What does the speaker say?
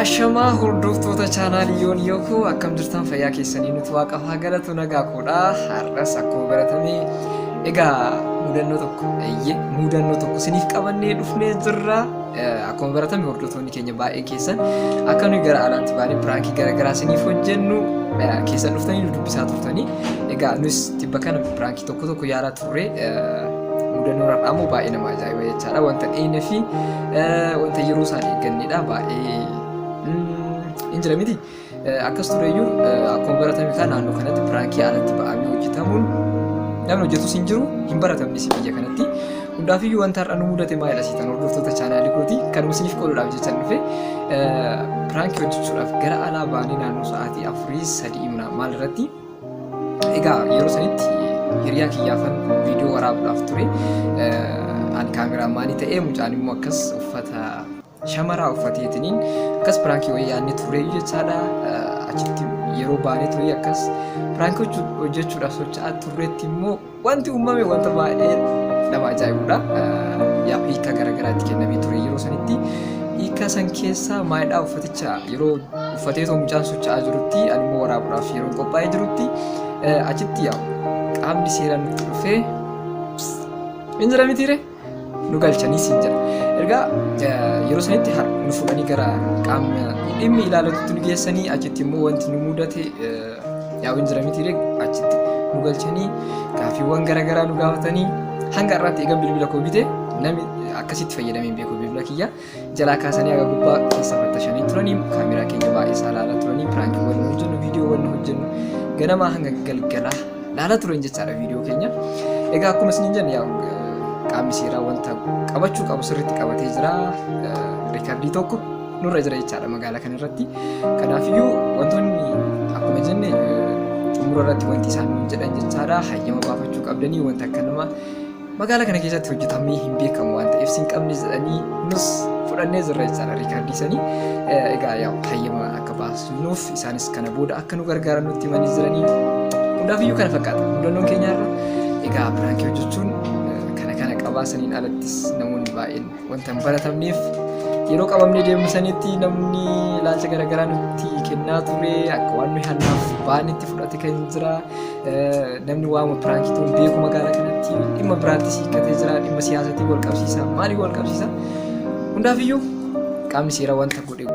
Ashamaa hordoftoota chaanaalii yoon yookoo akkam jirtan fayyaa keessanii nuti waaqaaf haa galatu nagaa koodha har'as akkuma baratame egaa mudannoo tokko eeyyee mudannoo tokko isiniif qabannee dhufnee jirra Eh, akkuma baratame hordoftoonni keenya baay'een keessan akka nuyi gara alaatti baanee piraankii garaagaraa isiniif hojjennu eh, keessan dhuftanii nu dubbisaa turtanii egaa nus tibba kana piraankii tokko tokko yaalaa ture mudannoo har'aa immoo baay'ee nama ajaa'iba jechaadha wanta dhiine fi wanta yeroo isaan eegganneedha baay'ee hin jira miti akkas tureyyuu akkuma baratame kan naannoo kanatti piraankii alatti ba'amee hojjetamuun namni hojjetus hin jiru hin baratamnis biyya kanatti hundaafiyyuu wanta har'a nu mudate maayila siitan hordoftoota chaanaalii kooti kan isiniif qoodudhaaf jechan dhufe piraankii hojjechuudhaaf gara alaa baanee naannoo sa'aatii afurii sadii maal irratti Egaa yeroo sanitti hiriyaa kiyyaafan viidiyoo waraabuudhaaf ture. Ani kaameraa maanii ta'ee mucaan immoo akkas uffata shamaraa uffateetiniin akkas piraankii wayii yaadne turre jechaadha. Achitti yeroo baanee turee akkas piraankii hojjechuudhaaf socho'aa turreetti immoo Wanti uumame wanta baay'ee nama ajaa'ibudha. Yaa hiika garaagaraa itti kennamee ture yeroo sanitti hiika san keessa maayidhaa uffaticha yeroo uffatee too mucaan socho'aa jirutti ani immoo waraabuudhaaf yeroo qophaa'ee jirutti achitti yaa qaamni seeraan nutti dhufee hin jira mitiire. nu galchanii siin jedha. Ergaa yeroo sanitti nu fuudhanii gara qaamni dhimmi ilaalatutti nu geessanii achitti immoo wanti nu mudate yaa'uun jira miti achitti nu galchanii gaaffiiwwan garaagaraa nu gaafatanii hanga har'aatti eegan bilbila koo bite namni akkasitti fayyadamee hin beeku bilbila kiyya. jalaa kaasanii haga gubbaa keessa fattashanii turanii kaameraa keenya baay'ee isaa laalaa turanii piraanki wal nu hojjennu viidiyoo wal nu hojjennu ganamaa hanga galgalaa laalaa turan jechaadha viidiyoo keenya egaa akkuma isin jenne yaa qaamni seeraa wanta qabachuu qabu sirriitti qabatee jira riikardii tokko nurra jira jechaadha magaalaa kana irratti kanaafiyyuu wantoonni akkuma jenne xumura irratti wanti isaan jedhan jechaadha hayyama baafachuu qabdanii wanta akka nama Magaalaa kana keessatti hojjetamee hin beekamu waan ta'eef sin qabne jedhanii nus fudhannee jirra jechaadha riikaardii sanii. Egaa yaa hayyama akka baasnuuf isaanis kana booda akka nu gargaaran nutti himanii jiranii. Hundaafiyyuu kana fakkaata. Mudannoon keenya irra egaa piraankii hojjechuun kana kana qabaa saniin alattis namoonni baay'een Wanta hin baratamneef yeroo qabamnee deemnu sanitti namni ilaalcha garaagaraa nutti kennaa ture akka waan nuyi hannaaf baanitti fudhate kan jira namni waama piraankii ta'uun beeku magaalaa kanatti dhimma biraatti siiqqatee jira dhimma siyaasatiin wal qabsiisa maaliif wal qabsiisa hundaafiyyuu qaamni seera wanta godhe